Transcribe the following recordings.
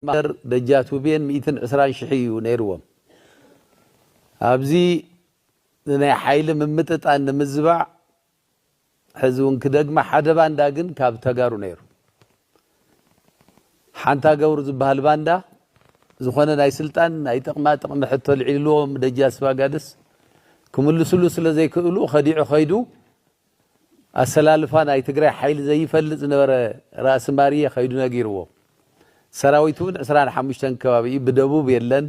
ማእከር በጃት ውቤን ሚእትን ዕስራን ሽሕ ኢዩ ነይርዎም። ኣብዚ ንናይ ሓይሊ ምምጥጣን ንምዝባዕ ሕዚ ውን ክደግማ ሓደ ባንዳ ግን ካብ ተጋሩ ነይሩ። ሓንታ ገብሩ ዝበሃል ባንዳ ዝኾነ ናይ ስልጣን ናይ ጥቕማ ጥቕሚ ሕቶ ኣልዒልዎም ደጃዝፋጋድስ ክምልስሉ ስለ ዘይክእሉ ከዲዑ ከይዱ ኣሰላልፋ ናይ ትግራይ ሓይሊ ዘይፈልጥ ዝነበረ ራእሲ ማርየ ከይዱ ነጊርዎ። ሰራዊት እውን ዕስራን ሓሙሽተን ከባቢ እዩ፣ ብደቡብ የለን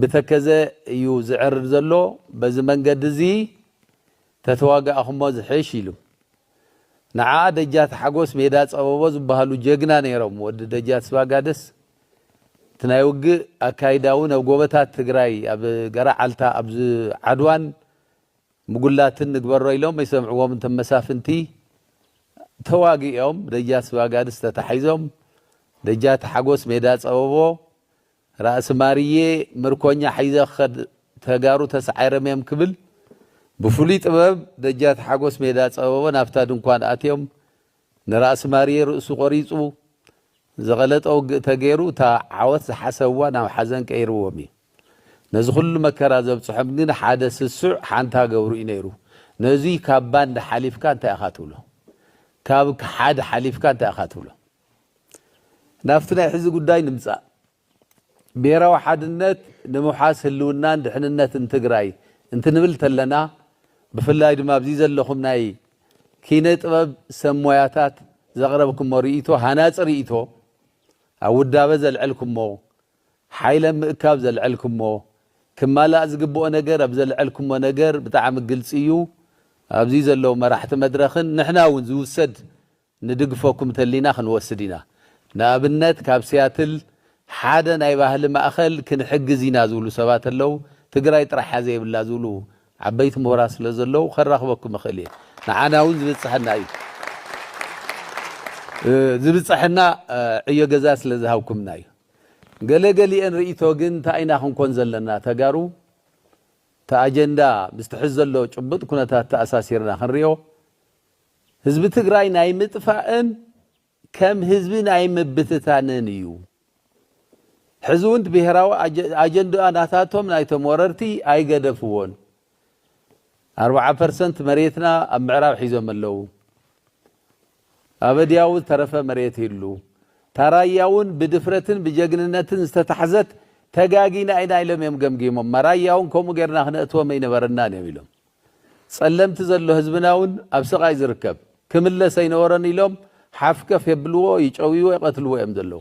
ብተከዘ እዩ ዝዕርር ዘሎ፣ በዚ መንገዲ እዚ ተተዋጋእኹሞ ዝሕሽ ኢሉ። ንዓ ደጃት ሓጎስ ሜዳ ፀበቦ ዝበሃሉ ጀግና ነይሮም፣ ወዲ ደጃት ስባጋደስ፣ እቲ ናይ ውግእ ኣካይዳ እውን ኣብ ጎበታት ትግራይ ኣብ ገራዓልታ ኣብ ዓድዋን ምጉላትን ንግበሮ ኢሎም ኣይሰምዕዎምን እቶም መሳፍንቲ ተዋጊኦም ደጃ ስባጋድስ ተታሒዞም ደጃቲ ሓጎስ ሜዳ ፀበቦ ራእሲ ማርየ ምርኮኛ ሒዘ ክኸድ ተጋሩ ተሳዒርም እዮም ክብል ብፍሉይ ጥበብ ደጃቲ ሓጎስ ሜዳ ፀበቦ ናብታ ድንኳን ኣትዮም ንራእሲ ማርየ ርእሱ ቆሪጹ ዝቐለጠ ውግእ ተገይሩ እታ ዓወት ዝሓሰብዋ ናብ ሓዘን ቀይርዎም እዩ። ነዚ ኩሉ መከራ ዘብጽሖም ግን ሓደ ስሱዕ ሓንታ ገብሩ እዩ ነይሩ። ነዙይ ካብ ባንዳ ሓሊፍካ እንታይ ኢኻ ትብሎ? ካብ ክሓዲ ሓሊፍካ እንታይ ኢኻ ትብሎ? ናብቲ ናይ ሕዚ ጉዳይ ንምጻእ። ብሄራዊ ሓድነት ንምውሓስ ህልውናን ድሕንነትን ትግራይ እንትንብል ተለና ብፍላይ ድማ ኣብዚ ዘለኹም ናይ ኪነ ጥበብ ሰብ ሞያታት ዘቕረብክሞ ርኢቶ ሃናፂ ርኢቶ ኣብ ውዳበ ዘልዐልክሞ ሓይል ኣብ ምእካብ ዘልዐልክሞ ክማላእ ዝግበኦ ነገር ኣብ ዘልዐልክሞ ነገር ብጣዕሚ ግልፂ እዩ ኣብዚ ዘለዉ መራሕቲ መድረኽን ንሕና እውን ዝውሰድ ንድግፈኩም ተሊና ክንወስድ ኢና ንኣብነት ካብ ሲያትል ሓደ ናይ ባህሊ ማእኸል ክንሕግዝ ኢና ዝብሉ ሰባት ኣለው ትግራይ ጥራሕ እያ ዘይብላ ዝብሉ ዓበይቲ ምሁራት ስለ ዘለው ከራኽበኩም እኽእል እየ ንዓና እውን ዝብፀሐና እዩ ዝብፀሐና ዕዮ ገዛ ስለ ዝሃብኩምና እዩ ገለ ገሊኤን ርእይቶ ግን እንታይ ኢና ክንኮን ዘለና ተጋሩ እቲ ኣጀንዳ ምስቲ ሕዚ ዘሎ ጭቡጥ ኩነታት ተኣሳሲርና ክንሪኦ ህዝቢ ትግራይ ናይ ምጥፋእን ከም ህዝቢ ናይ ምብትታንን እዩ። ሕዚ እውን ብሄራዊ ኣጀንድኣ ናታቶም ናይቶም ወረርቲ ኣይገደፍዎን። ኣርብዓ ፐርሰንት መሬትና ኣብ ምዕራብ ሒዞም ኣለዉ። ኣበድያዊ ዝተረፈ መሬት ይሉ ታራያ እውን ብድፍረትን ብጀግንነትን ዝተታሕዘት ተጋጊና ኢና ኢሎም እዮም ገምጊሞም። መራያ እውን ከምኡ ጌርና ክነእትዎም ኣይነበረናን እዮም ኢሎም። ጸለምቲ ዘሎ ህዝብና ውን ኣብ ስቃይ ዝርከብ ክምለስ ኣይነበሮን ኢሎም ሓፍከፍ የብልዎ ይጨውይዎ ይቀትልዎ እዮም ዘለዉ።